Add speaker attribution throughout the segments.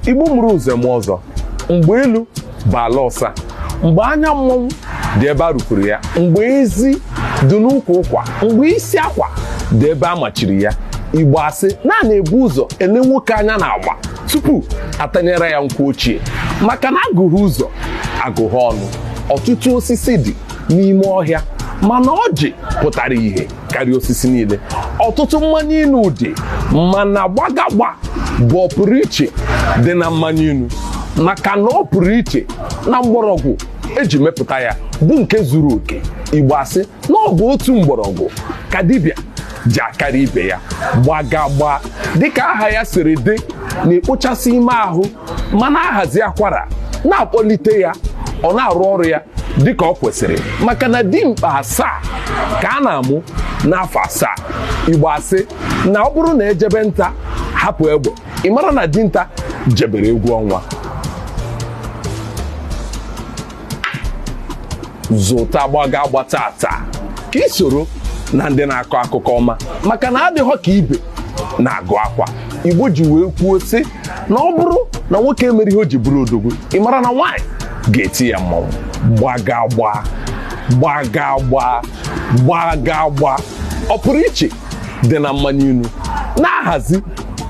Speaker 1: igbo mụrụ nze mụọ ọzọ mgbe elu bụ ala ọsa mgbe anya mmọnwụ dị ebe a rupụrụ ya mgbe ezi dị n'ukwu ụkwa mgbe isi akwa dị ebe a machiri ya igbo asị na a na-ebu ụzọ ele nwoke anya n'agba tupu atanyere ya nkwụ ochie maka na agụghị ụzọ agụghị ọnụ ọtụtụ osisi dị n'ime ọhịa mana ọjị pụtara ihe karịa osisi niile ọtụtụ mmanya inu dị mana gbagagba bụ ọpụrụ iche dị na mmanya inu maka na ọ pụrụ iche na mgbọrọgwụ eji mepụta ya bụ nke zuru oke igbo asị na ọ bụ otu mgbọrọgwụ ka dibịa ji akarị ibe ya gbagagba dịka aha ya siri dị na-ekpochasị ime ahụ ma na-ahazi akwara na-akpọlite ya ọ na-arụ ọrụ ya dịka o kwesịrị maka na dimkpa asaa ka a na-amụ n'afọ asaa igbo asị na ọ bụrụ na ejebe nta hapụ egbe ị mara na dinta jebere egwu ọnwa zụta gbagagba taata ka i soro na ndị na-akọ akụkọ ọma maka na adịghọ ka ibe na-agụ akwa igbo ji wee kwuo sị na ọ bụrụ na nwoke emere ihe o ji bụrụ odogwu ị mara na nwaanyị ga-eti ya mmanwụ gbagagba gbagagba gbagagba ọpụrụ iche dị na mmanya inu na-ahazi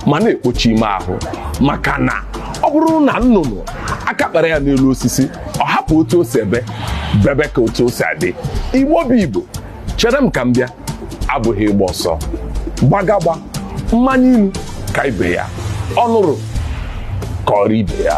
Speaker 1: ma na-ekpocha ime ahụ maka na ọ bụrụ na nnụnụ aka kpara ya n'elu osisi ọ hapụ otu o si ebe bebe ka otu o si adị igbo bụ igbo chere m ka m bịa abụghị ịgba ọsọ gbagagba mmanya inu ka ibe ya ọ nụrụ kọọrọ ibe ya